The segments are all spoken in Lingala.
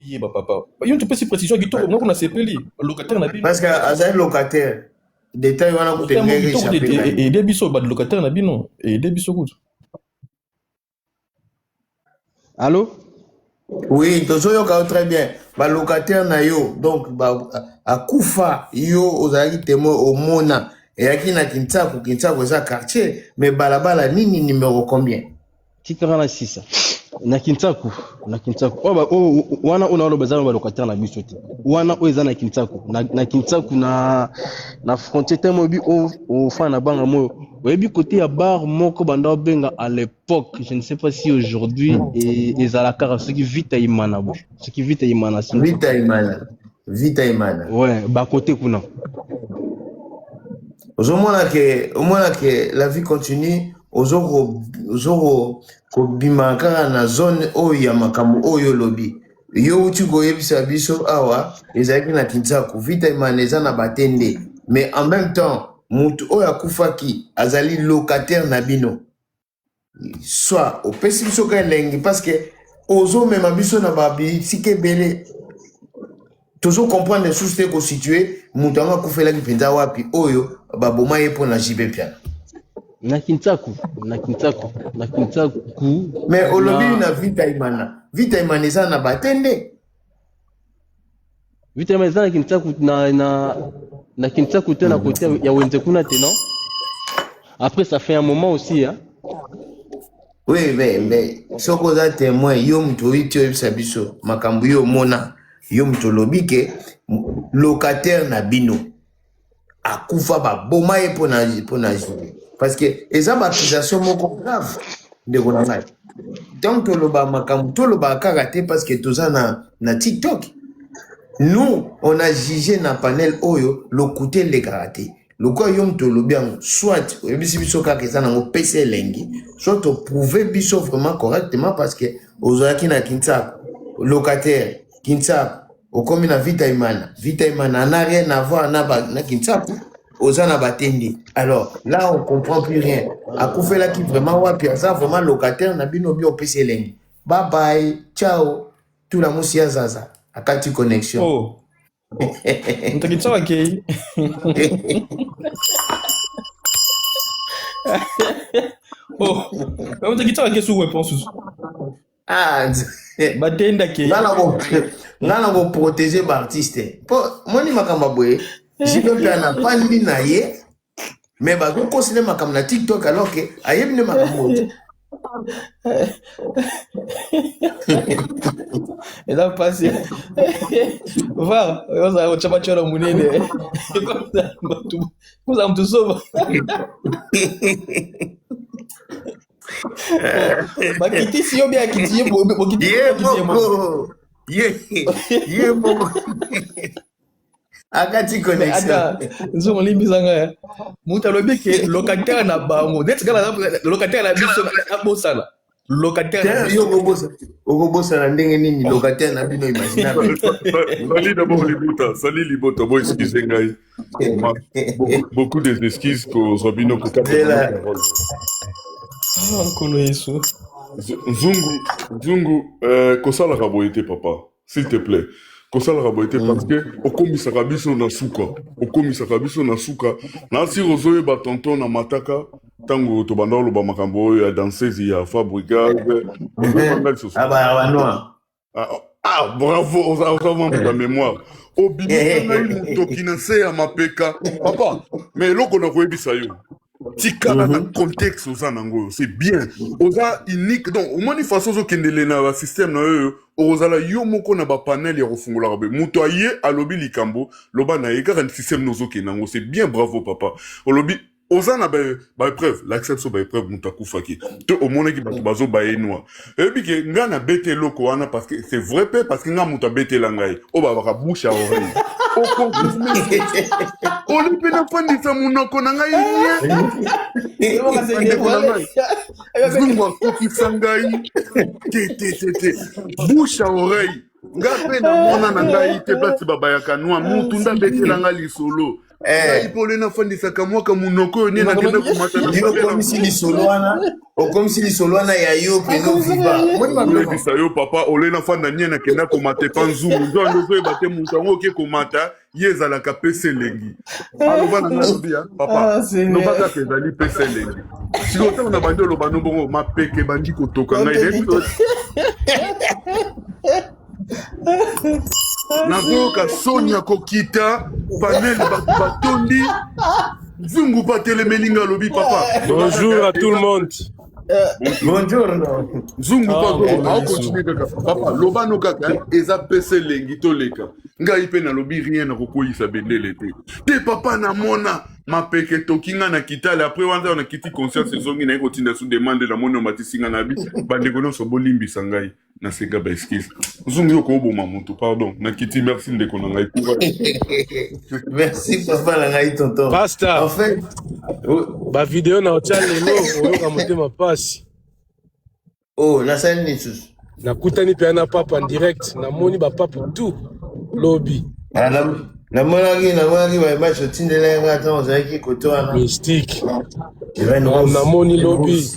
ye ba papa yo ntu pesi précision kitoko moko na sepeli locataire na bino parce que azali locataire detail wana kutu engenge echappe ede biso ba locataire na bino ede biso kutu allo oui tozoyoka yo très bien ba locataire na yo donc ba akufa yo ozalaki temoin omona eyaki na kinsaku kinsaku eza quartier mais balabala nini numero combien tika nga na sisa na kinsaku na kinsaku oyo ba- oyo- oyo- wana oyo naoloba eza na balocataire na biso te wana oyo eza na kinsaku na, na kinsaku na na frontier temo oyebi o- ofana na banga moyo oyebi kote ya bar moko banda obenga à l'époque je ne sais pas si aujourd'hui e- ezalaka kaka soki vita imana bo soki vita imana sinzo vita imana vita imana ouais ba côté kuna ozomona ke omona ke la vie continue ozo ozo kobima kaka na zone oyo ya makambo oyo olobi yo uti koyebisa biso awa ezalaki na kinsaku vita imana eza na batende mais en même temps moto oyo akufaki azali locataire na bino soit opesi biso ka elengi parce que ozomema biso na babitike ebele tozo comprendre lisusu te kositue moto yango akufelaki mpenza wapi oyo baboma ye mpo na jibe mpiana na kinsaku na kinsaku na kinsaku mais olobi na vita imana vita imana eza na bate nde Vitema eza na Kinsaku na na na Kinsaku te na kote ya Wenze kuna te non Après ça fait un moment aussi hein Oui mais mais soko oza témoin yo moto oyi ti oyebisa biso makambo yo omona yo moto olobi ke locataire na bino akufa baboma ye mpo na mpo na jury parce que eza baaccusation moko grave ndeko na ngai donc toloba makambo tolobaka kaka te parce que toza na, na tiktok nous on a jugé na panel oyo lokuta elekaka te lokola yo moto olobi yango soit oyebisi biso kaka eza nango pesa elengi soit oprouve biso vraiment correctement parce que ozalaki na kinsaku locataire kinsaku okomi na vita imana vita imana n'a rien à voir na, ba, na kinsapu oza na batende alors là on comprend plus rien akufelaki vraiment wapi aza vraiment locataire na bino bi opesi elengi bye bye ciao tula musi ya zaza akati connexion oh. moto kinsapu akei oh. moto kinsapu akei suku eponsusu Ah, batenda ke nga na koprotege baartiste mpo moni makambo boye jipe mpe na pandi na ye me bakokosi nde makambo na tiktok alors ke ayebi nde makambo te eza mpasi va ozala kotya batyolo monene kozala motu soba bakitisi yo bien akiti ye bokitisi ye moko ye ye moko akati connexion nzongo olimbisa nga ya moto alobi ke locataire na bango neti kaka locataire na biso abosana locataire na biso okobosana ndenge nini locataire na bino imaginable sali d'abord libuta sali liboto bo excuse ngai beaucoup, beaucoup des excuses kozwa bino kokaparole ah, nkolo yesu nzungu nzungu euh, kosalaka boye te papa s'il te plaît kosalaka boye te mm. parce que okomisaka biso na suka okomisaka biso na suka na siri ozoyeba tonton na mataka ntango tobanda oloba makambo oyo ya dansezi ya fabrigal eh, eh, eh. Ah, oh, ah bravo, oza oza mambo ya memoire. Obimisa ngai motoki na nse ya mapeka. Papa, mais eloko na koyebisa yo. tikala na contexte oza nango oyo c'est bien oza unique donc omoni façon ozokendele na basystème na yo oyo okozala yo moko na bapanel ya kofungolaka boye moto aye alobi likambo loba na ye kaka système na ozokende yango c'est bien bravo papa olobi oza na baepreuve lakisa biso baepreuve moto akufaki to omonaki bato bazoba ye noir eyebi ke ngai nabeti eloko wana parce que c'est vrai mpe parce que ngai moto abetela ngai oyo babaka bouche ya oreille okonfirme oli mpe nafandisa monoko na ngai nieakokisa ngai te te te te bouche ya oreille nga mpe namona na ngai te place babayaka nwa mutu nde abetela nga lisolo eh. ngai pole nafandisaka mwaka monoko oyo nde nakenda komataaokomisi lisolo wana okomisi lisolo wana ya yo mpenolebisa yo papa ole nafanda nie nakenda komata epa nzungu nzwande ozoyeba te moto yango oke komata ye ezalaka pesa elengi aloba na ngai lobi ya papa Ah, Seigneur. loba kaka ezali pesa elengi sikoyo ntango na bandi oloba no bongo mapeke bandi kotoka ngai nayebi to- nazoyoka soni ya kokita panel bato batondi nzungu batelemeli ngai alobi papa Bonjour à tout le monde. nzungu aokontinue kaka papa lobano kaka eh, eza pesa elengi toleka ngai mpe nalobi rien na kokweyisa bendele te te papa namona mapeke etoki nga na kitale apres wanza na kiti conscience ezongi naye kotinda su demande namoni omatisi nga nabi bandeko nyonso bolimbisa ngai nasenga ba excuse zungu yo kooboma motu pardon nakiti merci ndeko na ngai merci papa na ngai tonton pasta en fait bavideo na otya lelo oyoka motema mpasi oh nasali nini susu nakutani mpe na papa direct namoni bapape tout lobi ah, namonaki namonaki bamatch otindela yanga ntango ozalaki koto wana mystique namoni lobi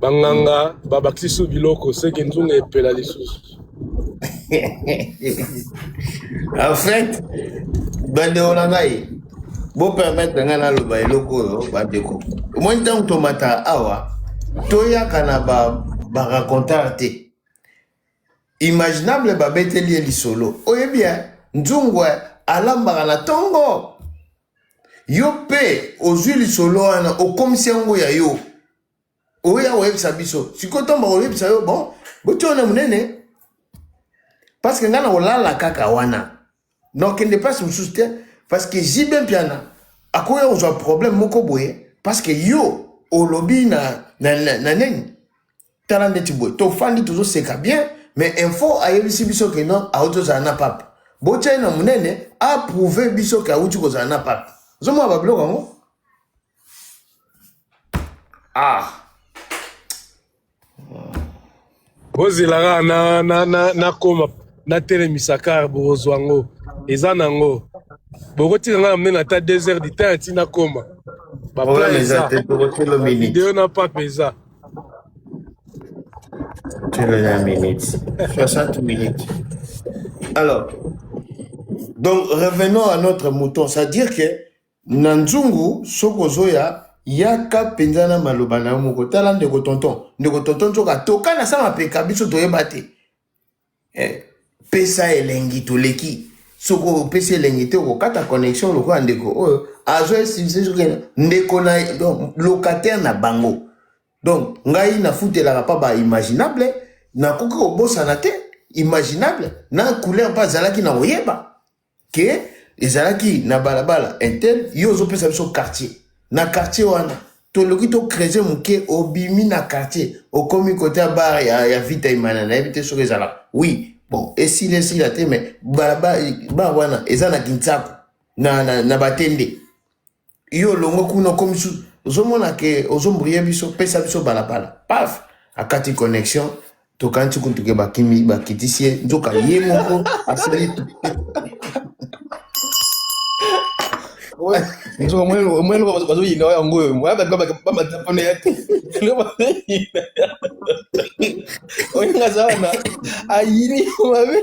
banganga babakisi su biloko seke nzunga epela lisusu en fait bandeko na ngai bopermetre ngai naloba eloko oyo bandeko omoni ntango tomataka awa toyaka na baracontare ba te imaginable babeteli ye lisolo oyebi ya nzungu alambaka na ntongo Yo pe ozui lisolo wana okomisi yango ya yo. Oya oyebisa biso. Sikoyo ntango bakoyebisa yo bon botia wana monene parce que ngai nakolala kaka wana. Donc kende place mosusu te parce que JB Mpiana akoya kozwa problème moko boye parce que yo olobi na na, na, na nini tala ndeti boye tofandi tozoseka bien mais info ayebisi biso ke non auti ozala na pape botya ye na monene aprouve biso ke auti kozala na pape ozomona babiloko yango ah bozela kaka na, na, na, na koma natelemisa kar bokozwa yango eza na yango bokotika ngai na monene ata 2 heures du temps ati nakoma baplan eza video na pape eza 21 minutes. 60 minutes. Alors, donc revenons à notre mouton. C'est-à-dire que na nzungu soki ozoya yaka mpenza na maloba na yo moko tala ndeko tonton ndeko tonton nzoka toka na sama peka biso toyeba te Eh, pesa elengi toleki soki opesi elengi te okokata connexion lokola ndeko oyo azwa esivise soki ndeko na donc locataire na bango donc ngai nafutelaka mpa ba imaginable nakoki kobosana te imaginable na couleur mpe azalaki na koyeba ke ezalaki na balabala intel yo ozopesa biso quartier na quartier wana toloki to creuser moke obimi na quartier okomi kote ya bar ya, ya vita imana nayebi te soki ezala oui bon esila esila te mais balabala bar wana eza na kinsaku na, na, na batende yo olongwe kuna okomi su ozomona ke ozombrie biso pesa biso balabala paf akati connexion tokanisi kutu ke bakimi bakitisi ye nzoka ye moko asali nzoka mwene bazoyina oyo yango oyo moya bato bamata mpona ya te oyo ngaza wana ayini mabe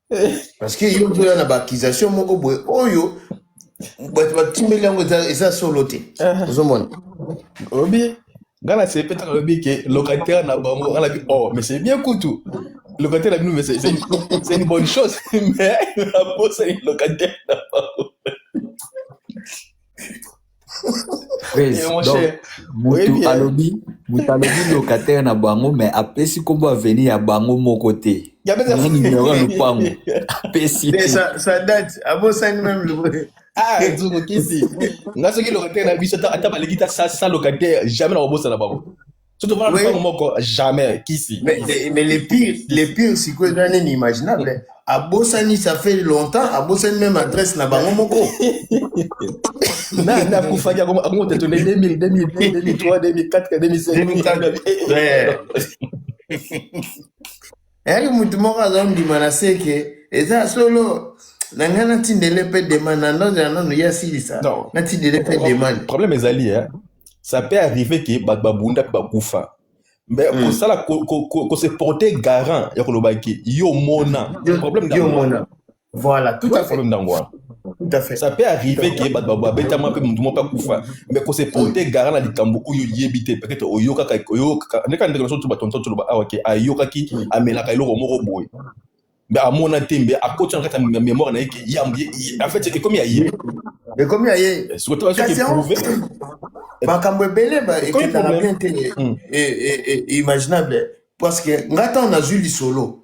parce que yo ozoya na baakisation moko boye oyo bato batimbeli yango eza eza solo te Uh-huh. ozomona olobi ngai na sepe ntango alobi ke locataire na bango ngai nabi oh mais c'est bien kutu locataire na bino mais c'est c'est une c'est une bonne chose mais naposani locataire na bango mutu alobi mutu alobi locataire na bango mais apesi kombo aveni ya bango moko te numero ya lopango apesi abosani meme ah, nga soki locataire na biso ata baleki ta sa locataire jamais na kobosana bango so tofanda Oui. lopango moko jamais kisi Mais, mais, mais le pire, le pire sikoyo eza nini imaginable abosani ça fait longtemps abosani même adresse na bango moko na na kufaki akomo akomo te tole 2000 2002 2003 2004 2005 2005. Ouais. Nayaki mutu moko azondima na seke eza solo na ngai natindele mpe demande na ndozela nano ye asilisa natindele mpe demande problème ezali eh? ça peut arriver ke bato babunda mpe bakufa mais mm. kosala ko, ko, ko, ko se porter garant ya koloba ke yo mona problème yo mona Voilà, tout à fait. Tout à fait. Ça peut arriver que bato babetama mpe motu moko akufa mais ko se porter garant na likambo oyo oyebi te peut-être oyokaka oyokaka ndeka ndeko na biso tu batonton toloba awa ke ayokaki amelaka eloko moko boye mais amona te mbe akoti na kati ya mémoire na ye ke yambo en fait ekomi ya ye ekomi ya ye eh, soki toka soki eprouve eh, makambo ebele ekendaka bien te hmm. eh, imaginable parce que ngai ntango nazwi lisolo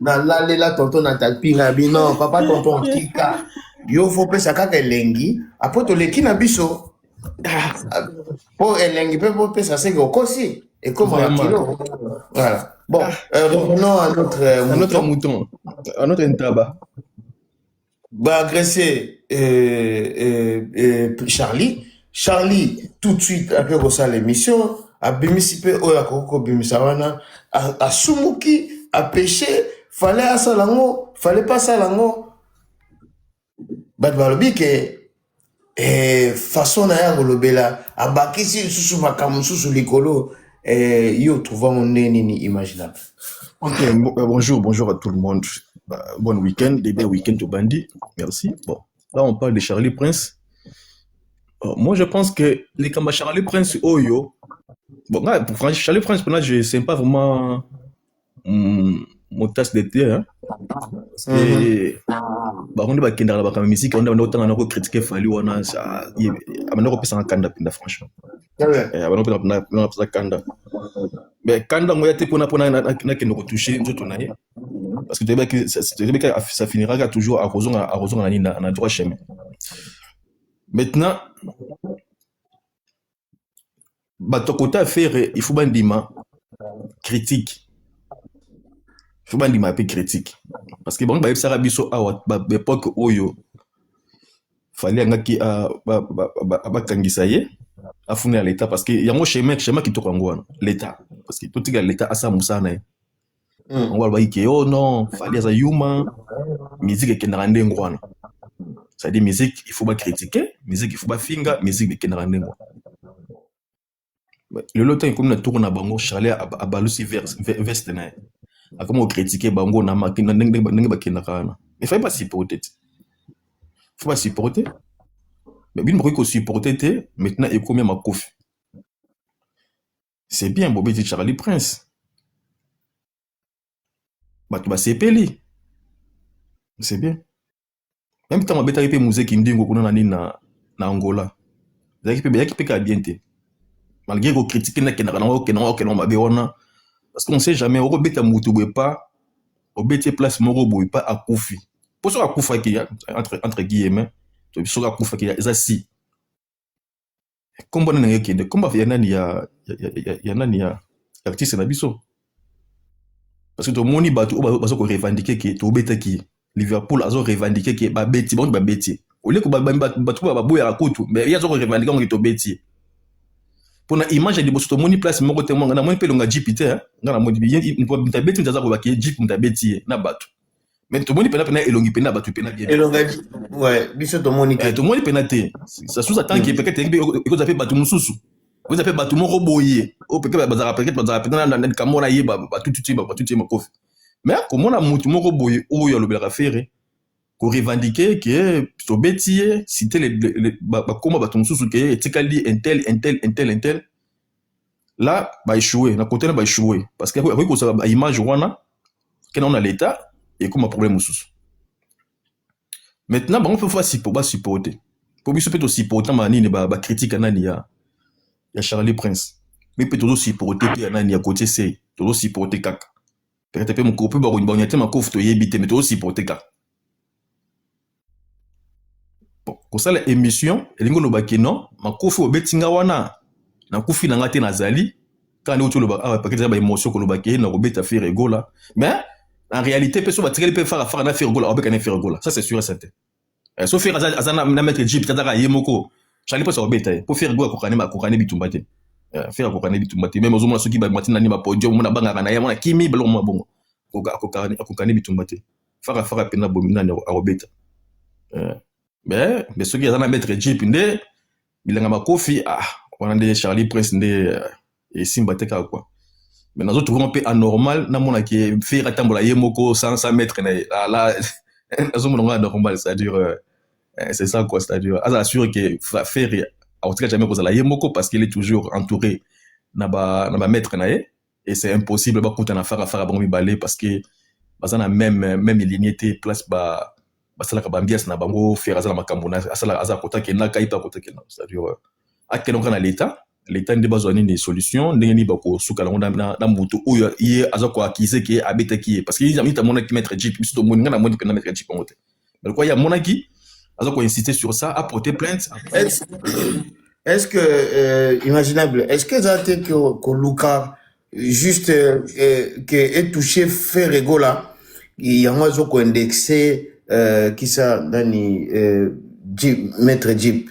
nalalela tonton na talpi na bino papa tonton tika yo fo pesa kaka elengi apo toleki na biso Ah, ah, po elengi mpe bopesa seke okosi ekoma na Vraiment. kilo voilà bon euh, revenons à notre euh, Un autre mouton mouton, un autre ntaba. ba agresser euh, euh, euh, Charlie Charlie tout de suite après kosala émission abimisi mpe oyo akoki kobimisa wana a- asumuki apeshe fale asala yango fale mpe asala yango bato balobi ke eh, façon na ye ya kolobela abakisi lisusu makambo mosusu likolo eh, yo trouva ngo nde nini imaginable Ok, bon- euh, bonjour, bonjour à tout le monde. Bah, bon week-end, bébé week-end au bandit. Merci. Bon, là on parle de Charlie Prince. Euh, moi je pense que les Kamba Charlie Prince Oyo. Bon, là, pour Fran- Charlie Prince, pour là, je sais pas vraiment. motas de te bango nde bakendaka na bakambo ya miziki wana banda kotanga na kokritike fali wana abanda kopesanga kanda mpenza franchement abanda kanda me kanda yango ya te mpona mpona nakende kotouche nzoto na ye parce que toyebaki ça finiraka toujours akozonga akozonga na nini na droit chemin maintenant bato ya kota ya fere ifo bandima critique ifo bandima pe critique parce que bango bayebisaka biso awa baepoke oyo fali yangaki bakangisa ye afuna ya leta parce que yango chemin chemin kitoko yango wana leta parce que totika leta asala mosala na ye mm. bango balobaki ke oh non fali aza yuma musique ekendaka ndenge wana c'est-à-dire musique il faut bacritiquer musique il faut bafinga musique ekendaka ndenge wana lelo ntango ekomi na tour na bango charle abalusi veste na ye akomi kokritike bango na ndenge bakendaka wana efai basiporte te fo basiporte mais bino bakoki kosiporte te maintenant ekomi ya makofi c'est bien bobeti charlie prince bato basepeli c'est bien meme ntango abetaki mpe muze kindingo kuna na nini na, na angola ezalaki mpe beyaki mpe kaka bien te malgré kokritike nakendaka nango okendaka okendaka mabe wana parce qu'on sait jamais okobeta motu boye pa obeti place moko boye pa akufi mpo soki akufaki entre, entre guillemets soki akufaki eza si kombo nani ekende kombo ya nani ya, ya, ya, ya nani ya artiste na biso parce que tomoni bato oyo baza korevendike ke tobetaki liverpool azo revendike ke babeti bango babeti olieko bato oyo baboyaka kutu mais ye aza korevendike yango ke tobeti mpo na image ya liboso tomoni place moko te mwanga namoni mpe elonga jipi te nga namoni abeti moto aza kobaki jipi moto abeti ye na bato mais tomoni pena pena elongi pena batu pena bien elonga ouais biso tomoni te eh, tomoni pena te ça sous attend que peut-être eko zape batu mususu eko zape batu moko boye o oh, peut-être bazara peut-être bazara peut-être na na kamona ye ba batu tuti ba batu tuti makofi mais komona mutu moko boye oyo oh, alobelaka fere ko revendiquer que tobeti ye citer bakoma batu mususu ke etikali intel intel intel intel la ba echoue na kote na ba echoue parce que akoki kozala ba image wana kena ona leta ekoma problème mosusu maintenant bango mpe fo basupporte mpo biso mpe tosupportama nini bakritike ba nani ya, ya charlie prince mi mpe tozosupporte mpe ya nani ya kotie sei tozosupporte kaka peut-être mpe mokolo mpe bakonya te makofi toyebi te me tozosupporte kaka kosala emission elingi oloba kino makofi obeti nga wana nakufi na nga te nazali kaka nde oti oloba awa ah, pakete eza baemotion koloba ke na kobeta fere egola mais en réalité mpe so batikali mpe fara fara na fere egola abeka na fere egola ça c'est sûr certain eh, so fere aza na maître jeep tataka ye moko chali mposa kobeta ye mpo fere egola akokani bitumba te eh, fere akokani bitumba te meme ozomona soki bamati nani bapodium mona abangaka na ye mona kimi baloko mwa bongo akokani bitumba te faka faka pena bomi nani akobeta eh. mais mais soki aza na maître jeep nde bilanga makofi ah wana nde charlie prince nde eh, esimba te kaka kua mais nazo trouve mpe anormal namona ke fere atambola ye moko sans sans maître na ye ah, la nazomona ngo anormal c'est à dire euh, eh, c'est ça quoi c'est à dire azala sûr ke fere akotika jamais kozala ye moko parce qu'il est toujours entouré na ba na ba maître na ye et c'est impossible bakutana faka faka bango mibale parce que baza na meme meme ligne te place ba basalaka bambiasi na bango fer aza na makambo na asala aza kota kenda kai mpe akota kenda c'est-à-dire euh, akenda kaka na leta leta nde bazwa nini solution ndenge nini bakosuka nango na, na, na moto oyo ye aza koakize ke abetaki ye parce que ye amoni amonaki maître jeep biso tomoni ngai namoni mpena maître jeep yango te mais lokola ye amonaki aza ko insiste sur ça a porter plainte est-ce est-ce que euh, imaginable est-ce que eza te koluka juste euh, que etouche ferre gola yango azo ko indexe euh, kisa nani euh, jeep, maître jeep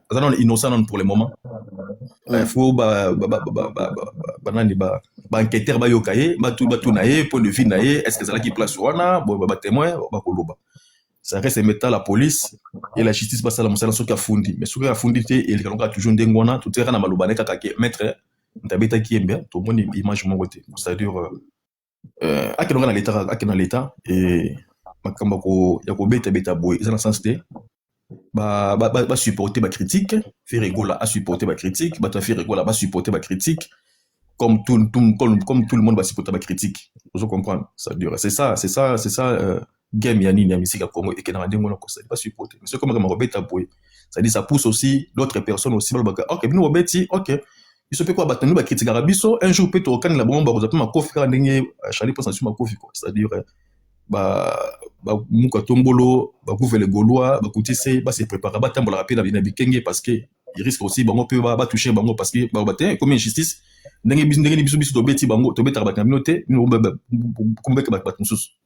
aza nano innocent nano pour le moment il faut banani baenquêteur bayoka ye batuna ye point de vue na ye est ce que ezalaki place wana bo batémoin bakoloba ça reste meta la police et la justice basala mosala soki afundi mais soki afundi te eleka lokola toujours ndenge wana totikaka na maloba ne kaka ke maître ntabetaki yembe tomoni image moko te c'est-à-dire euh, euh, akende kaka na leta kaka akende na leta e makambo ya ko- ya kobetabeta boye eza na sens te ba, ba, ba, ba supporter ba critique fere egola a supporter ba critique bato ya fere egola ba supporter ba critique comme tout, tout, comme, comme tout le monde ba supporter ba critique ozo comprendre ça dure c'est ça c'est ça c'est ça euh, Game ya nini ya musique ya Congo ekendaka ndenge wana kosali pas supporter mais soki makambo kobeta boye ça dit ça pousse aussi d'autres personnes aussi balobaka ok bino bobeti ok biso pe ko bato nini bakritikaka biso un jour pe tokokanela bango bakozwa pe makofi kaka ndenge euh, charlie mposa nsu makofi quoi c'est à dire euh, ba bamuka tombolo bakuvele golois bakutise base préparaka batambolaka mpe na bikenge parce que risque aussi bango mpe batouche bango parce que baloba te ekomi injustice ndenge biso ndenge biso biso tobeti bango tobetaka bato na bino te bino kobeta bato mosusu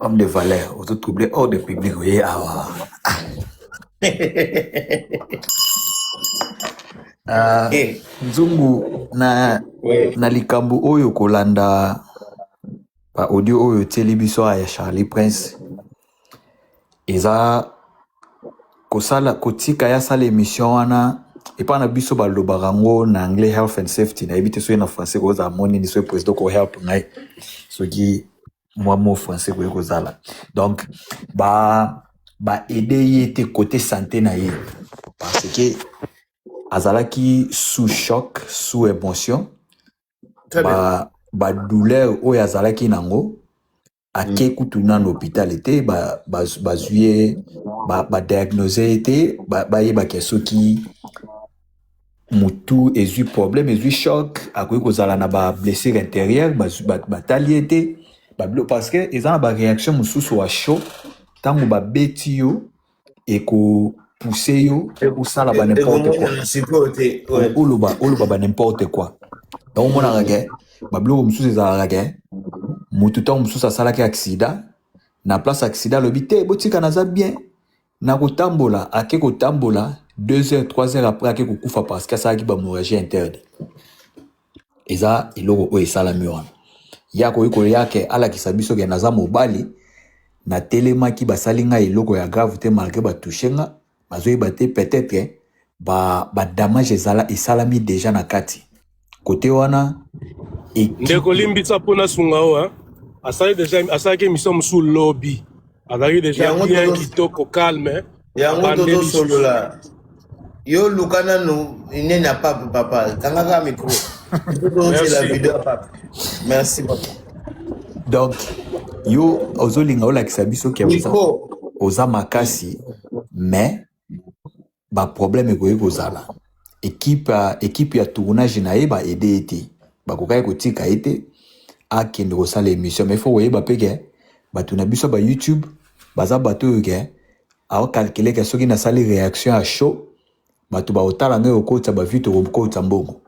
Homme de valeur, auto troublé hors de public, oui, ah, ah, ah. Ah, Eh, nzungu na ouais. na likambo oyo kolanda ba audio oyo otieli biso awa ya charlie prince eza kosala kotika ya sala emission wana epa na biso balobaka yango na anglais health and safety nayebi te soki na français kozala mo nini soki president ko help ngai soki mwa mo français koki kozala donc ba ba aide ye te kote sante na ye parce que azalaki sous choc sous émotion Très bien. ba ba douleur oyo azalaki nango ake mm. kutu nanu hopitale te bazwi ye badiagnose ye te bayebake soki mutu ezwi problème ezwi choc akoki kozala na bablessure intérieure batali ye te parce que eza na baréaction mosusu ya chaud ntango babeti yo ekopuse yo osala ba n'importe quoi oloba oloba ba n'importe quoi yango omonaka ke babiloko mosusu ezalaka ke motu ntango mosusu asalaki aksida na place aksida alobi te botika naza bien na kotambola ake kotambola 2 heures 3 heures après ake kokufa parce que asalaki bamorragie interne eza eloko oyo esalami wana ye akoki koya ke alakisa biso ke naza mobali natelemaki basali ngai eloko ya grave te malgre ba touche nga nazoyeba te peut etre ke ba ba damage ezala esalami deja na kati kote wana ekipe ndeko limbisa mpo nasunga yo hein. asali deja asalaki emission mosusu lobi azalaki deja Yango bien tozo- kitoko calme yango tozosolola yo luka nanu nene ya pape papa kangaka micro tozozela video ya pape merci papa donc yo ozolinga olakisa biso ke oza makasi mais baproblème ekoki kozala ekipe ekipe ya tournage na ye ba aide ye te bakokaki kotika ye te akende kosala émission mais fo koyeba mpe ke bato na biso ba youtube baza bato oyo ke aokalkile ke soki nasali réaction ya show bato baotala ngai kokotisa bavie tokokotisa mbongo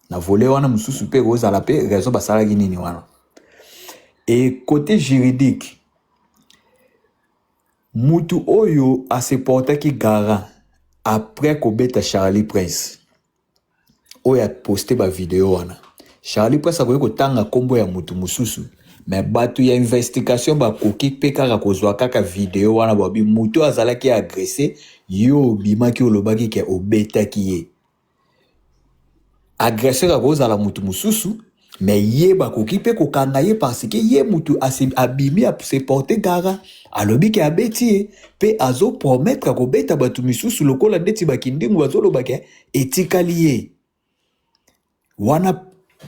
na vole wana mosusu mpe kozala mpe raison basalaki nini wana e côté juridique Mutu oyo a se portaki garant après ko beta Charly prince oyo a poste ba video wana Charly prince akoki ko tanga kombo ya mutu mususu mais batu ya investigation ba koki pe kaka ko zua kaka video wana ba lobi mutu oyo azalaki agresse yo obimaki olobaki ke obetaki ye agresseur akoki kozala moto mosusu me ye bakoki mpe kokanga ye parce que ye moto abimi se porte gara alobi ke abeti ye mpe azo promettre akobeta bato misusu lokola ndeti bakindingu bazoloba ke etikali ye wana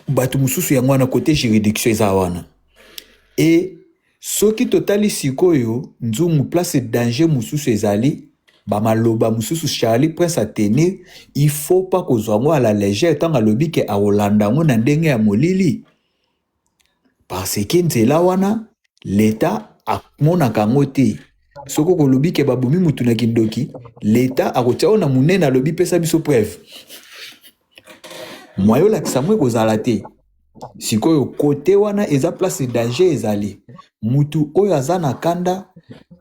bato mosusu yango wana kote juridiction eza wana e Soki totali sikoyo nzungu place danger mususu ezali ba maloba mususu Charly prince a tenir il faut pas kozwa yango à la legère tango alobi ke akolanda yango na ndenge ya molili parce que nzela wana l'etat amonaka yango te soki okolobi ke babomi mutu na kindoki l'etat akotia yo na munene alobi pesa biso preuve mwa yolakisa mwa ekozala te sikoyo kote wana eza place danger ezali mutu oyo aza na kanda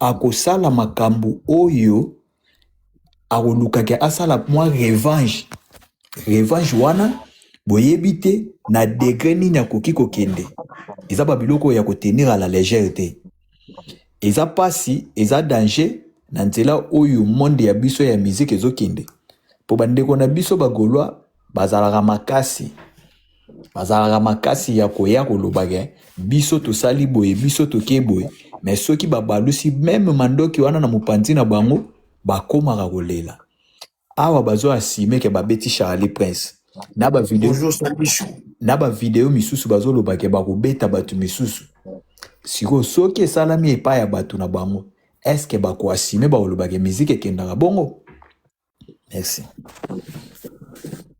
akosala makambo oyo akolukaki asala mwa revange revange wana boyebi te na degre nini akoki kokende eza babiloko oyo ya kotenir a la legere te eza pasi eza danger na nzela oyo monde ya biso ya musique ezokende mpo bandeko na biso bagolois bazalaka makasi bazalaka makasi ya koya kolobake biso tosali boye biso toke boye me soki babalusi meme mandoki wana na mopanzi na bango bakomaka kolela awa bazo assume ke babeti Charlie Prince na ba video Bonjour Samichou. na ba video misusu bazoloba ke bakobeta bato misusu sikoyo soki esalami epai ya bato na bango eske bakoasime bakoloba ke miziki ekendaka bongo merci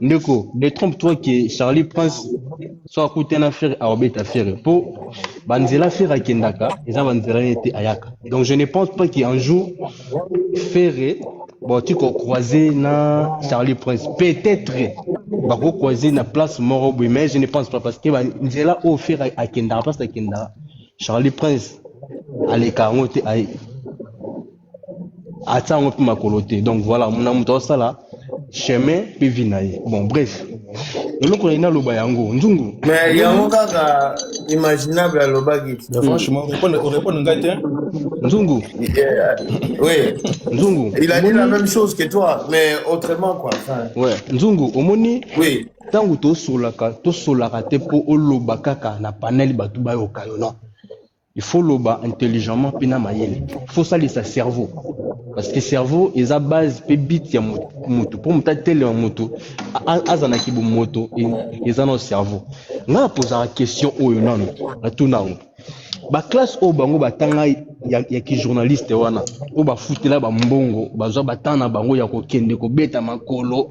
Ndeko, détrompe toi que Charlie Prince soit à côté na Ferre à obeta Ferre. Po banzela Ferre akendaka eza banzela ye te ayaka. Donc je ne pense pas qu'un jour Ferre bon tu ko croiser na Charlie Prince. Peut-être bako croiser na place moro boye mais je ne pense pas parce que banzela oyo Ferre akendaka place akendaka Charlie Prince aleka yango te aye. atia yango mpe makolo te donc voilà na moto aosala chemin mpe vie na ye bon bref eloko nai naloba yango nzungu mais yango kaka imaginable alobaki franchement orépondre ngai te nzungu oui nzungu il a dit la même chose que toi mais autrement quoi ouais nzungu omoni oui ntango tosolaka tosolaka te mpo oloba kaka na panel bato bayoka yo non il faut loba intelligemment mpe na mayele il faut osalisa cerveau parce que cerveau eza base mpe bit ya motu mpo moto atelema moto aza na kibomoto eza na cerveau ngai napozaka question oyo nano natuna yango baklasse oyo bango batanga ya, ya kijournaliste wana oyo bafutela bambongo bazwa batanga na bango ya kokende kobeta makolo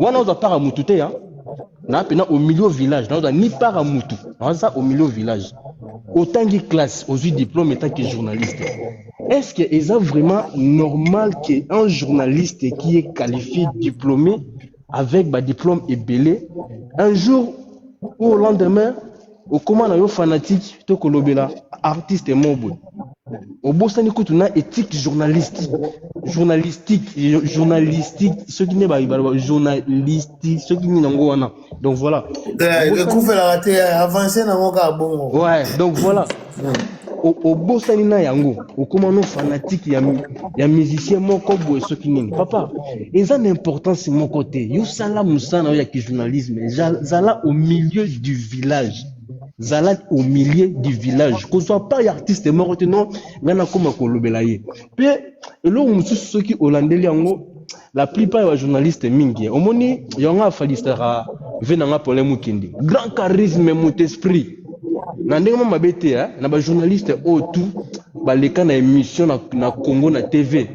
wana oza para mutu te ya na pena au milieu village na oza ni para mutu naza au milieu village otangi classe ozwi diplôme etant que journaliste est ce que eza vraiment normal que un journaliste qui est qualifié diplômé avec badiplôme ebele un jour ou au lendemain okoma na yo fanatique to kolobela artiste moko boye obosani kutu na ethique journalistique journalistique journalistique soki nde baloba journalistique soki nini yango wana donc voilà eh, ekufela te eh, avance nango kaka bongo ouais donc voilà obosani na yango okoma no fanatike ya, ya musicien moko boye soki nini papa eza na importance moko te yo sala mosala na yo ya kijournalisme zala au milieu du village zala au milieu du village kozwa pas ya artiste moko te non ngai nakoma kolobela ye mpe eloko mosusu soki olandeli yango la plupart ya bajournaliste mingi eh. omoni yango afalisaka ve na nga polin mokende grand charisme mot esprit na ndenge mwa mabe te eh, na bajournaliste oyo oh, tout baleka na émission na, na congo na tv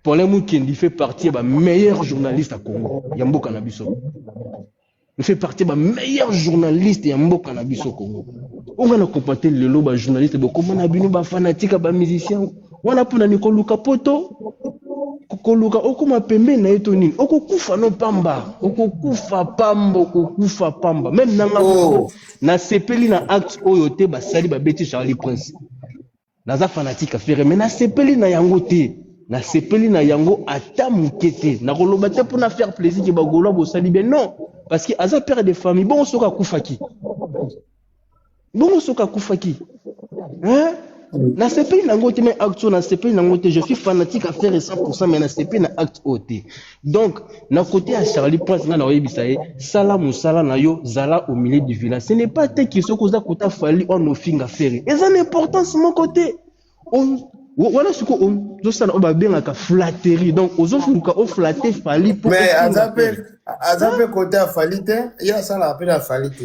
polin mokende fait partie ya bameilleur journaliste ya congo ya mboka na biso Il fait partie ba meilleurs journalistes ya mboka na biso Congo. Onga na compate lelo ba journalistes bokoma na bino ba fanatiques ba musiciens. Wana pona ni koluka poto koluka okoma pembeni na ye to nini okokufa no pamba okokufa pamba okokufa pamba meme nanga oh. nasepeli na acte oyo te basali babeti charlie prince Naza fanatique ya Ferre mais nasepeli na yango te. Nasepeli na yango ata moke te. Nakoloba te mpo na faire plaisir ke bagolois bosali bien non parce que aza père de famille bongo soki akufaki bongo soki akufaki hein? nasepeli na yango te mais acte oyo nasepeli na yango te je suis fanatique ya Ferre 100% mais nasepeli na acte oyo te. Donc, na côté ya Charlie Prince, nga na oyebisa ye, sala musala na yo, zala au milieu du village. Ce n'est pas te qui soko oza kota fali on ofinga ferre. Eza na importance mon côté. On wana siko ozosala oyo babengaka flatterie donc ozoluka oflatte fali mais aza mpe aza mpe kote ya fali te ye asalaka mpe na fali te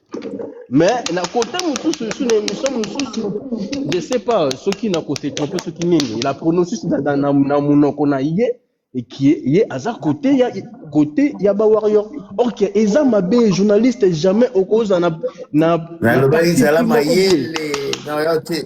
mais na kota mosusu esu na émission mosusu je sais pas soki na ko se trompe soki nini la pronosis na, na, na, na monoko na ye ekie ye aza kote ya kote ya ba warrior or que eza mabe journaliste jamais okozala na na, na nalobaki parti zala pris moko boye mayele na yo te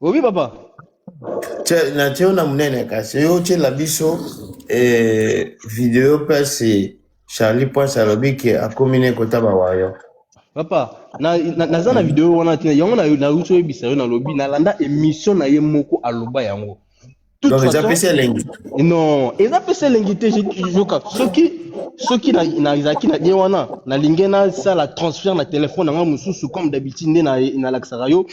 Oui, papa. na tio na munene kasi yo otyela biso eh, video mpasi charlie prince alobi ke akomi ne kota bawayo papa na- na- naza na video wana te yango na- nauti oyebisa yo nalobi nalanda émission na ye moko aloba yango toute façon eza pesa elengi non eza pesa elengi te yoka soki soki nazalaki na bien wana nalingi nasala transfert na telefone na ngai mosusu comme d'habitude nde nalakisaka yo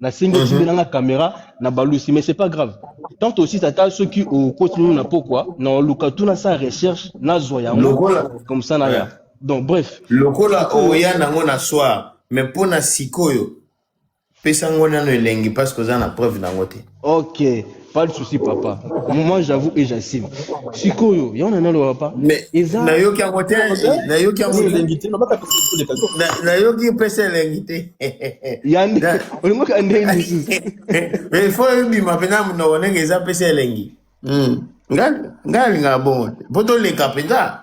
nasengi osimbi mhm. nanga caméra na balusi mais c'est pas grave tant aussi tata soki okoti nini na pokwa na oluka tu nasala recherche nazwa yango comme ça na ya donc bref lokola oya nango na soir mais mpo na sikoyo pesa ngo nano elengi parce que oza na preuve nango te ok pas de souci papa moi j'avoue et j'assume sikoyo yango na naloba papa mais eza nayoki yango te nayoki yango elengi te nayoki pesa elengi te yande olingaka ndenge mosusu mais il faut ebima mpenza monoko ndenge eza pesa elengi hmm. ngai alingaka bongo te mpo toleka mpenza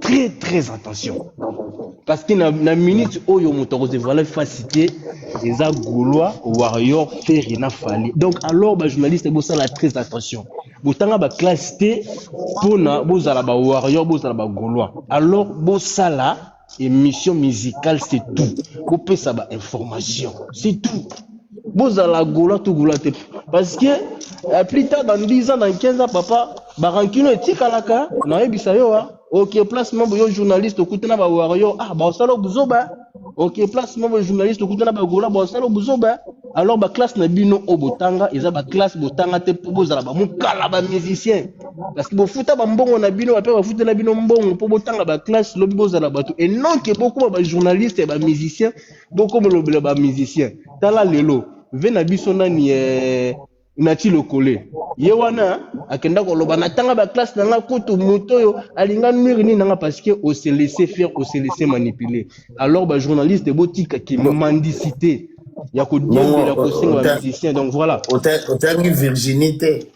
très très attention parce que na, na minute oyo moto akozevoile fasi te eza gaulois warrior ferre na fali donc alors bajournaliste bosala très attention botanga baklasse te mpona bozala bawarrior bozala bagaulois alors bosala émission musicale c'est tout bopesa bainformation c'est tout bozala gola to gola te parce que eh, plus tard dans 10 ans dans 15 ans papa barankino etikalaka nayebisa yo ah. ok place mambo yo journaliste okuta na bawario ah baosala buzoba ok place mambo journaliste okuta na bagola baosala buzoba alors baklasse na bino oyo botanga eza baklasse botanga te mpo bozala bamokala bamusicien parce que bofuta bambongo na bino bape bafutela bino mbongo mpo botanga baklasse lobi bozala bato et non ke bokoma bajournaliste ya bamusicien boko molobela ba musicien tala lelo ve na biso nani eh, nati lokole ye wana akenda koloba natanga baklasse na nga kutu moto oyo alinga nuire nini nanga parce que ose laisse faire ose laisse manipule alors bajournaliste botika kimandisite ya kodiembela kosenga bamusicien donc voilà otangi virginité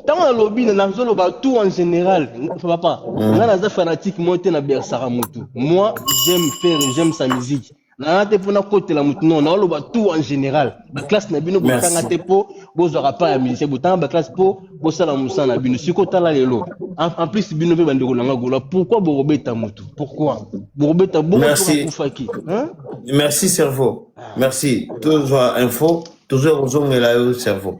ntango nalobi na- nazoloba tout en général papa Mm. nga naza fanatique moi te na bersaka motu moi j'aime faire j'aime sa musique naa te mpo nakotela motu non naoloba tout en général baklasse na bino botanga Merci. te mpo bozwaka pa ya musicien botanga baklasse mpo bosala mosala na bino siko tala lelo en en plus bino mpe bandeko na nga gola pourquoi bokobeta motu pourquoi bokobeta boko mpo Merci. bakufaki hein? Merci cerveau. merci tozwa info tozoya kozongela yo cerveau